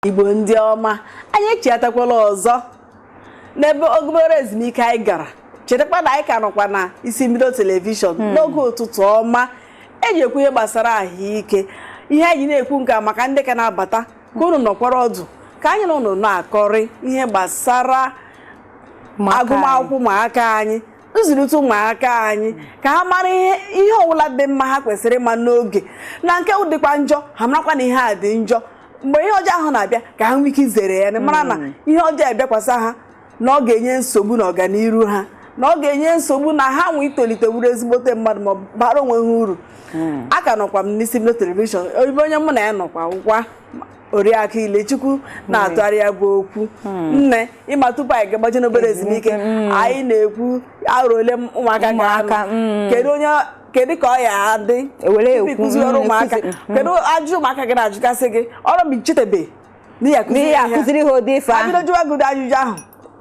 igbo ndị ọma anyị echiatakwala ọzọ n'ebe ogobere ezumike anyị gara chetakwa na anyị ka nọkwa na isi mbido telivishọn hmm. n'oge ụtụtụ ọma e ji ekwu ihe gbasara ahụike ihe anyị na-ekwu nke maka ndị ka na-abata ka unu nọkwara ọdụ ka anyị na unu na-akọrị ihe gbasara agụmakwụkwọ ụmụaka anyị nzụlite ụmụaka anyị ka ha mara ihe ọbụla dị mma ha kwesịrị ịma n'oge na nke dịkwa njọ ha marakwa na ihe a dị njọ mgbe ihe ọjọọ ahụ na-abịa ka ha nwee ike izere ya mara na hmm. ihe ọjọọ abịakwasa ha na ọ ga-enye nsogbu na ọganiru ha na ọ ga-enye nsogbu na ha nwee itolite wụrụ ezigbote mmadụ ma bara onwe ha uru hmm. a ka nọkwa m n'isi mbido telivishọn ebe onye mụ na ya nọkwa wụkwa oriakụ ilechukwu na-atụgharị ya bụ okwu hmm. nne ị ma tupu anyị ga-agbaje n'obere ezumike anyị na-ekwu arọ ole ụmụaka ga-anọ kedu onye kedu ka ọ ya adị ịkụziri ụmụaka kedu ajụjụ ụmụaka gị na-ajụgasị gị ọrụ m chitebe n'ihi akụziri ha ụdị ife ahụ ha bido jụwagodo ajụjụ ahụ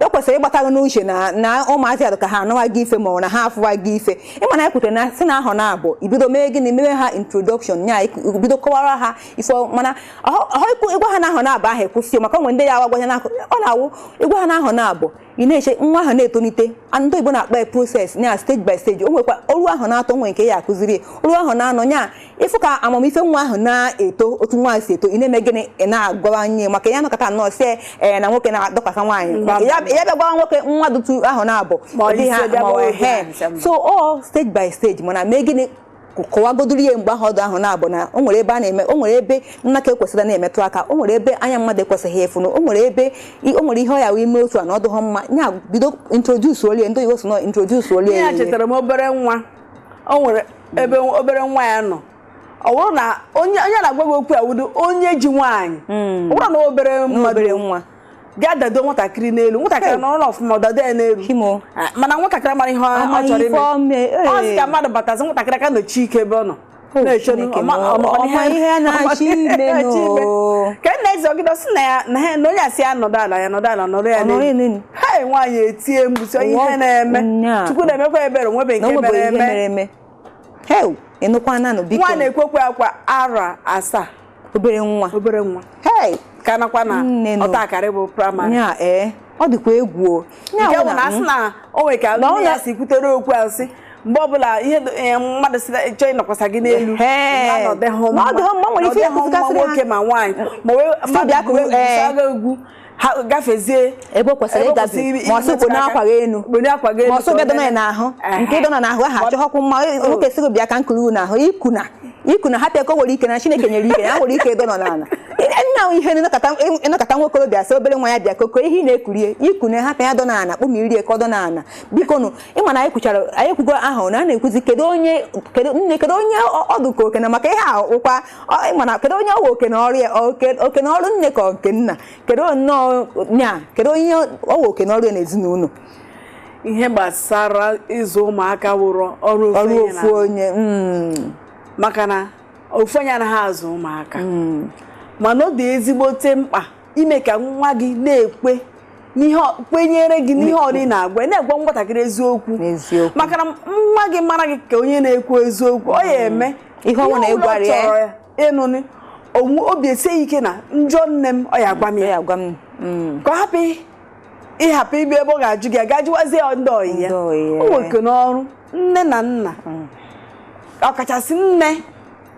o kwesịrị ịgbata gị n'uche na na ụmụazị a dụ ka ha anụwago ife maọbụ na ha afụwago ife ị ma na anyị kwutere na si na ahọ naabọ i bido mee gịnị mewe ha introduction nya bido kọwara ha ife mana ọ wụhọ ị gwa ha na ahọ naabọ ahụ ị kwụsị maka o nwe ndị ya agwa gwa ya na ọ na-awụ ị gwa ha na ahọ naabọ ị na-eche nwa ahụ na-etolite ndị oyibo na-akpọ ya process na stage by stage o nwekwa o ruo ahọ naatọ o nwere nke ya akụziri o ruo ahọ naanọ nya ị fụ ka amamife nwa ahụ na-eto otu nwaanyị si eto ị na-eme gịnị ị na-agwawanye maka ya nọkata nnọọ sị ee eh, na nwoke na-adakwasa nwaanyị ya bịa gwara nwoke nwa dụtu ahọ naabọ ọ dịghị so ọ stage by stage mana mee gịnị kọwagodoro ya mgbe ahụ ọ dụ ahọ naabọ na o nwere ebe a na-eme o nwere ebe nnaka ekwesịrị na-emetụ aka o nwere ebe anya mmadụ ekwesịghị ịfụ na o nwere ebe o nwere ihe ọ ya ime otu a na ọ dụghọ mma ya bido introduce early ndị oyibo sị na introduce early ya chetara m obere nwa o nwere ebe obere nwa ya nọ ọ bụrụ na onye na-agwa gị okwu awudo onye ji nwaanyị hmm. ọ bụrụ na obere mmadụ nwa bịa dado nwatakịrị n'elu nwatakịrị nọrọ ọfụma dado ya n'elu mana nwatakịrị mara ihe ọ chọrọ ime ọ sị ka mmadụ batazi nwatakịrị ka nọchi ike ebe ọ nọ ka nna eze ọgịdọ si na ya na ha na onye a sị ya nọdụ ala ya nọdụ ala nọrọ ya n'elu ha nwaanyị etie mkpu sị onye ihe na-eme chukwu na-emekwa ebere nwebe nke mere eme nwa na-ekwekwe akwa arọ asaa obere nwa obere nwa hey ka nọkwa na ọta akara bụ praịmarị ya ee eh, ọ dịkwa egwu o nke bụ na a sị na o nwere ka nne ya si kwutere okwu ahụ sị mgbe ọbụla ihe eh, mmadụ si chọọ ịnọkwasa gị n'elu ọ dịghị mma nwoke ma nwaanyị ma wee agha egwu ha gafezie ebe kwesịrị Ebe ịgazi kwesịrị ma ọsị ikpo imetụ aka. na-akwaghị elu Ikpo na-akwaghị elu ma ọsị ka ọ obedoma ya mee. n'ahụ Ehe. nke ịdọna n'ahụ ahụ achọghọkwụ mma nwoke sịrị bịa ka m kuru nwa ahụ ekuna ekuna hapụ ka o nwere ike na chineke nyere ike ya nwere ike ịdọnọ n'ala nna ahụ ihe ịnọkọta ịnọkọta nwa okorobịa sị obere nwa ya bịa koko ihe ị na-ekurie ekuna hapụ ya dọ n'ala kpụmirie ka ọ dọ n'ala bikonụ ị ma na anyị kwuchara anyị kwugo ahụ na a na-ekwuzi kedu onye kedu nne kedu onye ọ- ọdụ ka oke na maka ihe a ụkwa mana kedu onye ọ wụ oke na ọrụ ya oke na ọrụ nne ka ọ nke nna kedu nnọọ nya kedu onye ọ wụ oke na ọrụ ya n'ezinụlọ ihe gbasara ịzụ ụmụaka awụrọ ọrụ ofu onye hmm. maka na ofu onye anaghị azụ ụmụaka hmm. mana ọ dị ezigbote mkpa ime ka nwa gị na-ekwe kwenyere gị n'ihe ọ wụ ị na-agwa na-agwa nwatakịrị eziokwu maka na nwa gị mara gị ka onye na-ekwu eziokwu ọ ya eme ihe ọwụna ị gwara ya ịnụnị obi esie ike na m jụọ nne m ọ ya agwa m ya mm. ka ọ hapụ ịhapụ ebe ebe ọ ga-ajụ gị ọ gaa jụwazie ndị ọyị ya ọ wụ oke na ọrụ nne na nna mm. ọkachasị nne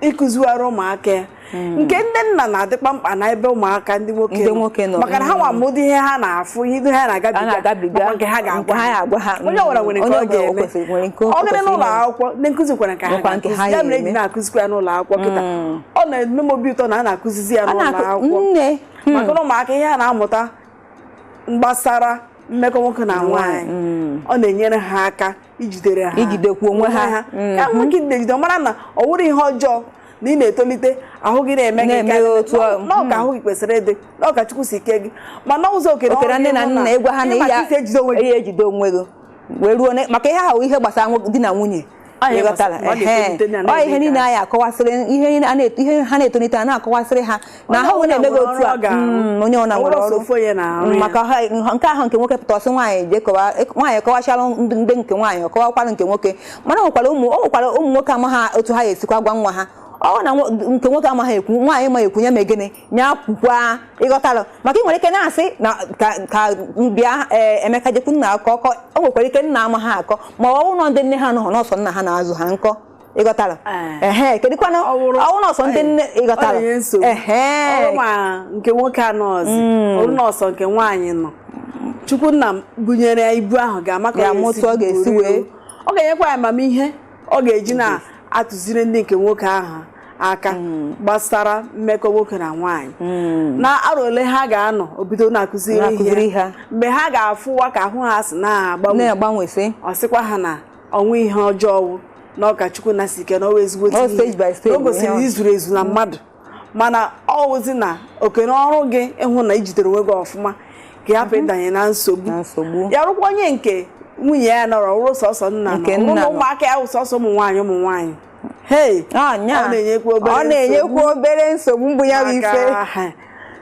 ịkụziwara ụmụaka ya hmm. nke ndị nna na-adịkwa mkpa na ebe ụmụaka ndị nwoke nọ maka na ha nwa ma ụdị ihe ha na-afụ ihe ha na-agabiga nke ha ga-agwa ha hmm. onye ọbụla nwere nke ọ ga-eme ọ gara n'ụlọ akwụkwọ ndị nkụzi nwekwara nke ha ga-akụzi ya mere e ji na-akụzikwa ya n'ụlọ akwụkwọ kịta hmm. ọ na-eme m obi ụtọ na a na-akụzizi ya n'ụlọ akwụkwọ maka na ụmụaka ihe ha na-amụta gbasara mmekọ nwoke na nwaanyị ọ na-enyere ha aka ijidere ha ijidekwu onwe ha ka mhm. nwoke na-ejide mara na ọ wụrọ ihe ọjọọ na ị na-etolite ahụ gị na-eme gị ka na ọ ka ahụ gị kwesịrị ịdị na ọ ka chukwu si kee gị mana ọ wụzi oke na ọrụ nne na nna ịgwa ha na ị ya-ejide onwe gị wee ruo maka ihe ahụ ihe gbasara di na nwunye ịghọtara ọ ihe niile anyị akọwasịrị ha ha na-etolite a na-akọwasịrị ha na ahụ ya na-eme gị otu a mm, onye ọwụna nwere ọrụ mm, maka nke ahụ nke nwoke pụta ọ sị nwaanyị nwaanyị kọwachala ndị nke nwaanyị ọ kọwakwara nke nwoke mana o nwekwara ụmụ o nwekwara ụmụ nwoke amaghị otu ha ga-esikwa gwa nwa ha ọ na nke nwoke amaghị ekwu nwaanyị ma ekwu ya ma gịnị ya kwukwa ịghọtara maka ị nwere ike na-asị na ka m bịa eh, emeka jekwu nna akọ ọkọ o nwekwara ike nna amaghị akọ ma ọ bụrụ na ndị nne ha nọ nọọsọ nna ha na-azụ ha nkọ ịghọtara ehe kedụkwanụ ọ wụ nọọsọ ndị nne ịghọtara ehe nke nwoke anọrọzi mm. ọ wụ nọọsọ nke nwaanyị nọ chukwu nna bunyere ya ibu ahụ ga-ama ka ọ ga-esi wee ọ ga-enyekwa ya amamihe ọ ga-eji na-atụziri ndị nke nwoke ahụ aka mm. gbasara mmekọ nwoke na nwaanyị mm. na arọ ole ha ga-anọ o bido na-akụziri ha mgbe ha ga-afụwa ka ahụ ha si na-agbanwe ọ sịkwa ha na ọnwụ ihe ọjọọ wụ na ọ ka Chukwunna si kee na ọwa ezigbo Ọ stage by stage na o gosiri ihe ọ- i zuru ezu na mmadụ mana ọ wụzi na oke na ọrụ gị ịhụ na i jidere onwe gị ọfụma ka ị hapụ ịdanye na nsogbu Na nsogbu. ya rụkwa onye nke nwunye ya nọrọ wụrụ sọsọ nna Nke nọ, wụrụ nna na nọ. ụmụaka ya wụ sọsọ ụmụ nwaanyị ụmụ nwaanyị Hey, Anya. ọ na-enyekwu obere ọ na-enyekwu obere nsogbu mbụ ya bụ ife Maka, ha,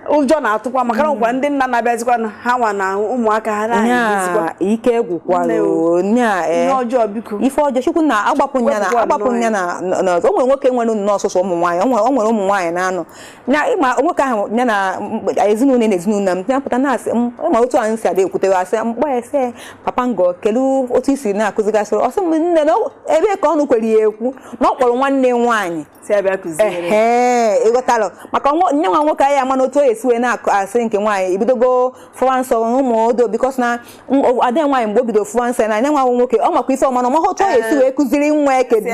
ụjọ na-atụkwa maka na ọ kwa ndị nna na-abịazikwa na ha nwa na ụmụaka ha na-ahịzikwa nya ike Nne gwụkwara o. o, nya eh, ihe ọjọọ biko ife ọjọọ Chukwunna agbapụ ya na Wepụkwa agbapụ nnọọ ya na na- na- o nwere nwoke nwere nnọọ sọsọ ụmụ nwaanyị o nwere o nwere ụmụ nwaanyị na anọ na ị ma nwoke ahụ ya na ezinụlọ na ezinụlọ m ya pụta na-asị ma otu anyị si adị ekwutere asị mkpa ese papa Ngọ kedu otu i si na-akụzigasịrị ọ sị m nne na ebe ka ọnụ kwere ya ekwu na ọ kpọrọ nwanne nwaanyị ị ghọtara maka nyanwa nwoke anyị ama na otu o esi wee na-asị nke nwaanyị i bidogo fụwa nsọ ụmụ although because na ada nwaanyị mgbe o bido fụwa nsọ na nyanwa nwoke ọ makwa ife ọ ma na ọ maghị otu ọ ga-esi wee kụziri nwa ya kedu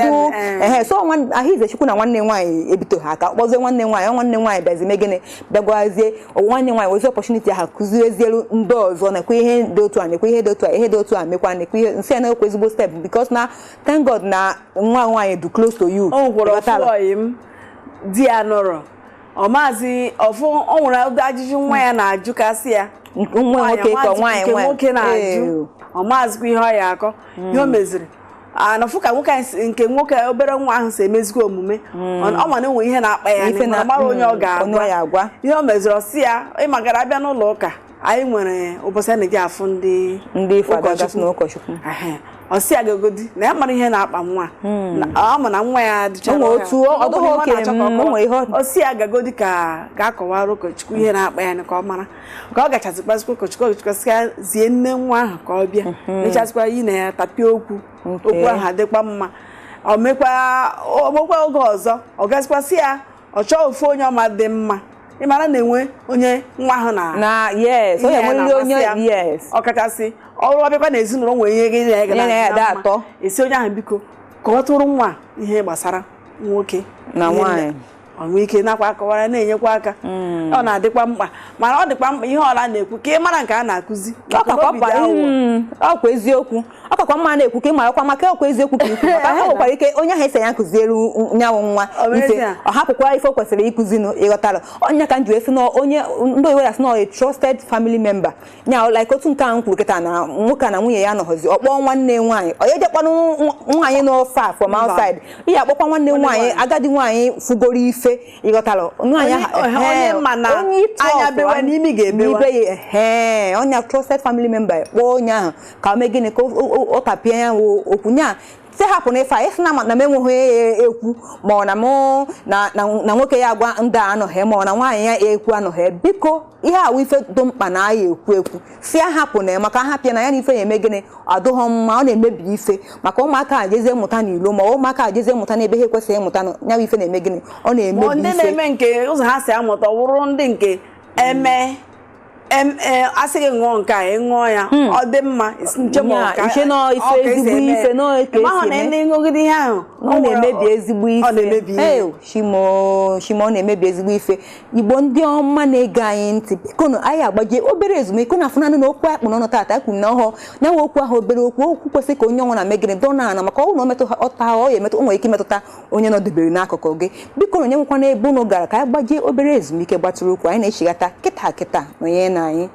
ehe so ahụ izechukwu na nwanne nwaanyị ebido ha aka kpọzie nwanne nwaanyị nwanne nwaanyị bịazi mee gịnị bịagwazie nwanne nwaanyị wezi opportunity ahụ kụziezielu ndị ọzọ nekwa ihe dị otu a nekwa ihe dị otu a ihe dị otu a mekwa nekwa ihe m sị ya na-ekwe ezigbo step because na thank God na nwa nwaanyị dụ close to you di ya nọrọ ọ maazị ọfụ o nwere ụdị ajụjụ nwa ya na-ajụgasị ya nwa nwoke ka nwaanyị nke nwoke na-ajụ ọ maazịkwa ihe ọ ya akọ hmm. ihe o meziri a na-afụ ka nwoke nke nwoke obere nwa ahụ si emezikwa omume hmm. ọ ma na o nwere ihe na-akpa ya mara onye ọ hmm. ga-agwa ihe o meziri ọ sị ya ịmagara abịa n'ụlọ ụka anyị nwere ụbọchị a na-eji afụ ndị ndị fada gasị na ụkọchukwu Ehe. ọ sị ya gagodi na ya amara ihe na-akpa nwa Na- ọ ma na nwa ya dịchara Onwe ọhịa. otu ọ- ọ dịghị Onwe oke, na-achọ ka ọ mm, kọwa. o nwe ihe ọ- ọ sị ya gagodi ka ka a kọwara ụkọchukwu ihe na-akpa ya ka ọ mara ka ọ gachazị kpazikwa ụkọchukwu ụkọchukwu sị ya zie nne nwa ahụ ka ọ bịa mechazikwa ya na ya tapịa okwu Okay. okwu ahụ adịkwa mma o mekwa o mekwa oge ọzọ ọ gazikwa sị ya ọ chọọ ofu onye ọ ma dị mma ị mara na-enwe onye nwa ahụ na na yes o na-enwerịrị onye yes ọkachasị ọrụ ọ bịakwa na ezinụlọ nwere ihe gị na ega na atọ a sị onye ahụ biko kọtụrụ nwa ihe gbasara nwoke na nwaanyị o nwe ike nakwa akọwara na-enyekwa aka hmm. ọ na-adịkwa mkpa mana ọ dịkwa mkpa ihe Ọla na-ekwu ka ị mara nke a na-akụzi ọ kwa hmm, eziokwu ọ kakwa mma na-ekwu ka ị marakwa maka ọ kwa eziokwu ka i kwu maka ha nwekwara ike onye ahụ a sị ya kụziere nyanwụ nwa ife ọ hapụkwara ife o kwesịrị ịkụzi nụ ị ghọtara ọ nya ka m ji wee sị na onye ndị oyibo na-asị na a trusted family member nya like otu nke ahụ kwuru kịta na nwoke na nwunye ya nọghọzi ọ kpọọ nwanne nwaanyị onye jekpọrọ nwaanyị n'ofe a from outside ị ya akpọkwa nwanne nwaanyị agadi nwaanyị fugoro ife ị ghọtara nwaanyị ahụ onye trusted family member kpọọ onye ahụ ka o mee gịnị ka ọ tapịa ya okwu nya si hapụ na ife a ị sị na na m enweghị ya ekwu ma ọ na mụ na nwoke ya agwa ndị a anọghị ma ọ na nwaanyị ya ekwu anọghị biko ihe a wụ ife dị mkpa na a ya-ekwu ekwu sị ya hapụ na ya maka ahapịa na ya na ife ya-eme gịnị adụghọ mma ọ na-emebi ife maka ụmụaka ejezie mụta n'ilo ma ụmụaka ejezie mụta n'ebe ha ekwesịghị ịmụta ya ife na-eme gịnị ọ na-emebi ife ndị na-eme nke ụzọ ha si amụta ọ bụrụ ndị nke eme E, a sị gị ṅụọ nke a ị ṅụọ ya hmm. ọ dị mma nche ma ọka ife na ife ezigbo ife na eke esi eme na ịṅụgide ihe ahụ ọ na-emebi ezigbo ife shimo shimo ọ na-emebi ezigbo ife Igbo ndị ọma na-ege anyị ntị biko na anyị agbaje obere ezumike na afụnanụ na okwu a kpụ n'ọnụ taata ekwu na ọhụụ na nwe okwu ahụ obere okwu okwu kwesịrị ka onye ọwụna mee gịnị dọna ana maka ọ na ọ metụ ọta ọ ya-emetụ o nwere ike imetụta onye nọdebere n'akụkụ gị biko na onye enwekwana ebe unu gara ka anyị gbaje obere ezumike gbatụrụ ụkwụ anyị na-echighata kịta kịta nọnyerenụ anyị